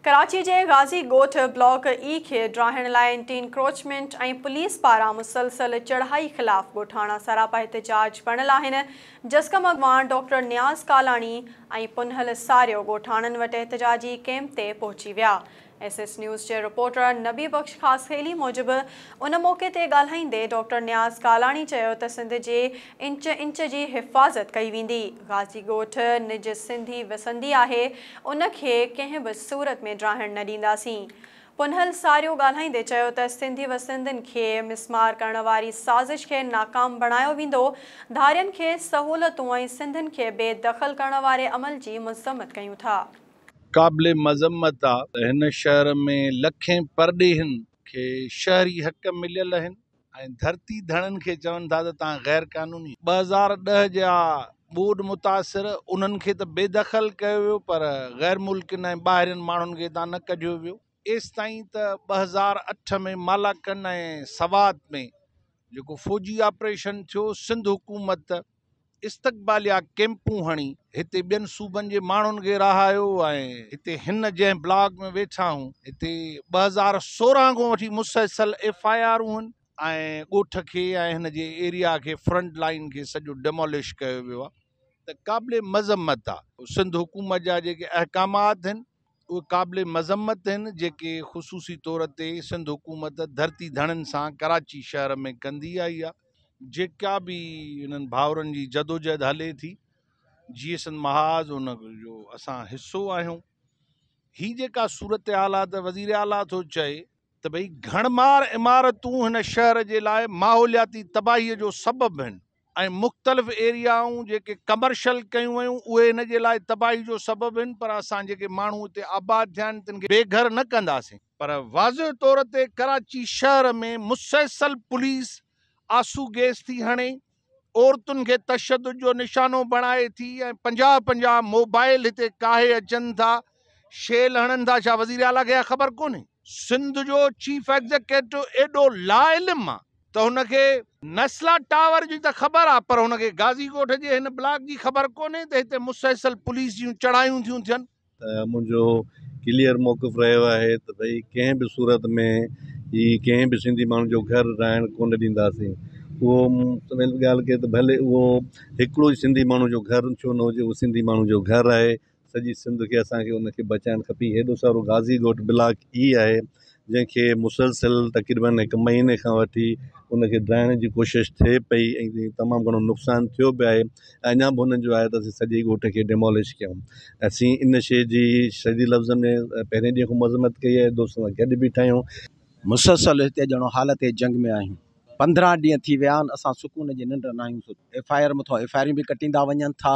ڪراچي جي Ghazi Goth block A کي ڊاهڻ لاء اينٽي انڪروچمينٽ ۽ پوليس پاران مسلسل چڙهائي خلاف ڳوٺاڻا سراپا احتجاج بڻيل آهن، جسقم اڳواڻ ڊاڪٽر نياز ڪالاڻي ۽ پنهل ساريو ڳوٺاڻن وٽ احتجاجي ڪئمپ تي پهچي ويا. ايس ايس نيوز جي رپورٽر نبي بخش خاصخيلي موجب ان موقعي تي ڳالهائيندي ڊاڪٽر نياز ڪالاڻي چيو ته سنڌ جي انچ انچ جي حفاظت ڪئي ويندي. غازي ڳوٺ نج سنڌي وسندي آهي، ان کي ڪنهن به صورت ۾ ڊاهڻ نه ڏينداسين. پنهل ساريو ڳالهائيندي چيو ته سنڌي وسندين کي مسمار ڪرڻ واري سازش کي ناڪام بڻايو ويندو، ڌارين کي سهولتون ۽ سنڌين کي بي دخل ڪرڻ واري عمل جي مذمت ڪيون ٿا. قابل مذمت آ ته هن شهر ۾ لکين پرڏيهين کي شهري حق مليل اهن، ۽ ڌرتي ڌڻين کي چون ٿا ته توهان غير قانوني. ٻه هزار ڏهه جا ٻوڏ متاثر انهن کي ته بي دخل ڪيو ويو پر غير ملڪين ۽ ٻاهرين ماڻهن کي هتان نه ڪڍيو ويو ايستائين ته ٻه هزار اٺ ۾ مالاڪن ۽ سوات ۾ جيڪو فوجي آپريشن ٿيو سنڌ حڪومت استقباليه ڪيمپون هڻي هتي ٻين صوبن جي ماڻهن کي رهايو ۽ هتي هن جنهن بلاڪ ۾ ويٺا هون هتي ٻه هزار سورهن کان وٺي مسلسل ايف آء آرون هن ۽ ڳوٺ کي ۽ هن جي ايريا کي فرنٽ لائين کي سڄو ڊيمولش ڪيو ويو آهي ته قابل مذمت آهي سنڌ حڪومت جا جيڪي احڪامات هن اهي قابل مذمت آهن جيڪي خصوصي طور تي سنڌ حڪومت ڌرتي ڌڻين سان ڪراچي شهر ۾ ڪندي آئي آهي جيڪا به انهن ڀائرن جي جدوجهد هلي ٿي جي سن محاذ ان جو اسان حصو آهيون هي جيڪا صورتحال آهي ته وزير اعليٰ ٿو چئي ته ڀئي گهڻ مار عمارتون هن شهر جي لاء ماحولياتي تباهي جو سبب آهن ۽ مختلف ايريائون جيڪي ڪمرشل ڪيون ويون اهي هن جي لاء تباهي جو سبب هن پر اسان جيڪي ماڻهو هتي آباد ٿيا آهن تن کي بي گهر نه ڪنداسين. پر واضح طور تي ڪراچي شهر ۾ مسلسل پوليس آسو گيس ٿي هڻي، عورتن کي تشدد جو نشانو بڻائي ٿي ۽ پنجاهه پنجاهه موبائل هتي ڪاهي اچن ٿا، شيل هڻن ٿا ڇا وزيراعليٰ کي اها خبر ڪونهي؟ سنڌ جو چيف ايگزيڪيٽو ايڏو لاعلم آ؟ ته هن کي نسلا ٽاور جي ته خبر آ پر هن کي غازي ڳوٺ جي هن بلاڪ جي خبر ڪونهي ته هتي مسلسل پوليس جون چڙهايون ٿيون ٿين. منهنجو ڪليئر موقف رهيو آهي ته ڀئي ڪنهن به صورت ۾ هي ڪنهن به سنڌي ماڻهو جو گهر رهائڻ ڪونه ڏينداسين اهو سويل ڳالهه ڪئي ته ڀلي اهو هڪڙو ئي سنڌي ماڻهو جو گهر ڇو نه هجي اهو سنڌي ماڻهو جو گهر آهي سڄي سنڌ کي اسان کي ان کي بچائڻ کپي هيڏو سارو غازي ڳوٺ بلاڪ اي آهي جنهن کي مسلسل تقريبن هڪ مهيني کان وٺي ان کي ڊاهڻ جي ڪوشش ٿئي پئي ۽ تمام گهڻو نقصان ٿيو به آهي ۽ اڃا به انهن جو آهي ته اسين سڄي ڳوٺ کي ڊيمولش ڪيون اسين ان شي جي شديد لفظن ۾ پهرين ڏينهن کان مذمت ڪئي آهي دوستن سان گڏ بيٺا آهيون مسلسل هتي ڄڻو حالت جنگ ۾ آهيون پندرهن ڏينهن ٿي ويا آهن اسان سڪون جي ننڊ ناهيون سڌي ايف آء آر مٿان ايف آء آرون به ڪٽيندا وڃن ٿا.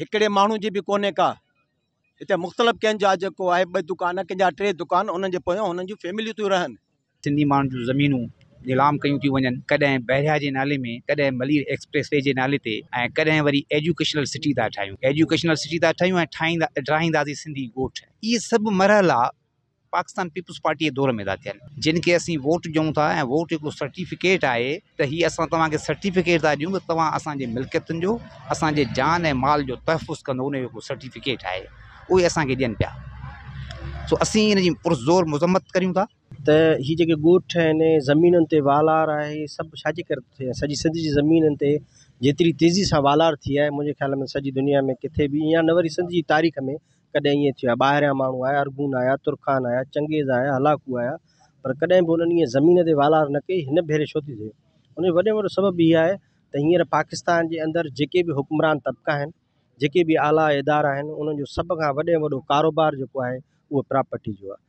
هڪڙي ماڻهو جي به ڪونهي ڪا هتي مختلف ڪنهن جا جيڪو آهي ٻه دڪان ڪنهن جا ٽي دڪان انهن جي پويان انهن جون فيمليون ٿيون رهن. سنڌي ماڻهن جون زمينون نيلام ڪيون ٿيون وڃن ڪڏهن بحريا جي نالي ۾ ڪڏهن ملير ايڪسپريس وي جي نالي تي ۽ ڪڏهن وري ايجوڪيشنل سٽي ٿا ٺاهيون ايجوڪيشنل سٽي ٿا ٺاهيون ۽ ٺاهيندا ٺاهينداسين سنڌي ڳوٺ اهي سڀ مرحلا پاڪستان پيپلز پارٽي جي دور ۾ ادا ٿيل جن کي اسين ووٽ ڏيون ٿا ۽ ووٽ هڪڙو سرٽيفڪيٽ آهي ته هي اسان توهان کي سرٽيفڪيٽ ٿا ڏيون ته توهان اسان جي ملڪيتن جو اسان جي جان ۽ مال جو تحفظ ڪندو ان جو هڪڙو سرٽيفڪيٽ آهي اهو ئي اسان کي ڏين پيا سو اسين ان جي پرزور مذمت ڪريون ٿا ته هي جيڪي ڳوٺ آهن زمينن تي والار آهي سڀ ڇا جي ڪري ٿيا سڄي سنڌ جي زمينن تي جيتري تيزي سان والار ٿي آهي منهنجي خيال ۾ سڄي دنيا ۾ ڪٿي به ائين نه وري سنڌ جي تاريخ ۾ ڪڏهن ائين ٿيو آهي ٻاهريان ماڻهو آيا ارغون آيا ترخان آيا چنگيز آيا هلاڪو آيا پر ڪڏهن به انهن ائين زمين تي والار نه ڪئي هن ڀيري ڇو ٿي ٿئي ان جو وڏي ۾ وڏو سبب هي آهي ته هينئر پاڪستان جي اندر جيڪي به حڪمران طبقا آهن جيڪي به اعليٰ ادارا آهن انهن جو سڀ کان وڏي ۾ وڏو ڪاروبار جيڪو آهي اهو پراپرٽي جو آهي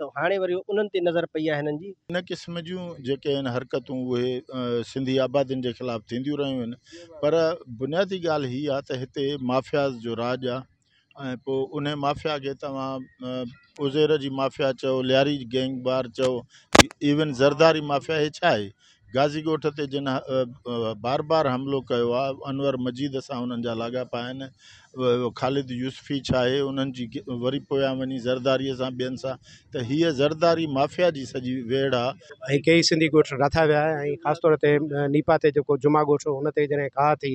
ته هاڻي وري انهن تي نظر پئي آهي هنن جي. ان قسم جون جيڪي آهن حرڪتون اهي سنڌي آبادين جي خلاف ٿينديون رهيون آهن پر بنيادي ڳالهه هي آهي ته هتي مافياز جو راڄ آهي ۽ پوء انهي مافيا کي توهان عزير جي مافيا چئو لياري گينگ بار چئو ايون زرداري مافيا هي ڇا آهي غازي ڳوٺ تي جن بار بار حملو ڪيو آهي انور مجيد سان انهن جا لاڳاپا آهن خالد يوسفي ڇا آهي انهن جي وري پويان وڃي زرداري سان ٻين سان ته هيء زرداري مافيا جي سڄي ويڙهه آهي ۽ ڪيئي سنڌي ڳوٺ راٿا ويا ۽ خاص طور تي نيپا تي جيڪو جمعا ڳوٺ هو ان تي جڏهن ڪاهه ٿي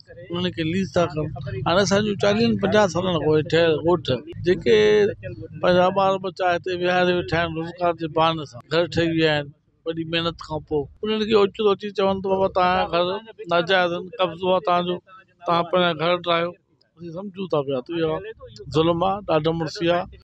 انهن کي ليز ٿا ڪن هاڻي اسان جون چاليهن پنجاهن سالن کان پوء ٺهيل ڳوٺ جيڪي پنهنجا ٻار ٻچا هتي ويهاري ويٺا آهن روزگار جي بهاني سان گهر ٺهي ويا آهن وڏي محنت کان پوء انهن کي اوچتو اچي چون ته بابا توهان جا گهر ناجائز آهن قبضو آهي توهان جو توهان پنهنجا گهر ٽاهيو اسين سمجهون ٿا پيا ته اهو ظلم آهي ڏاڍ مڙسي آهي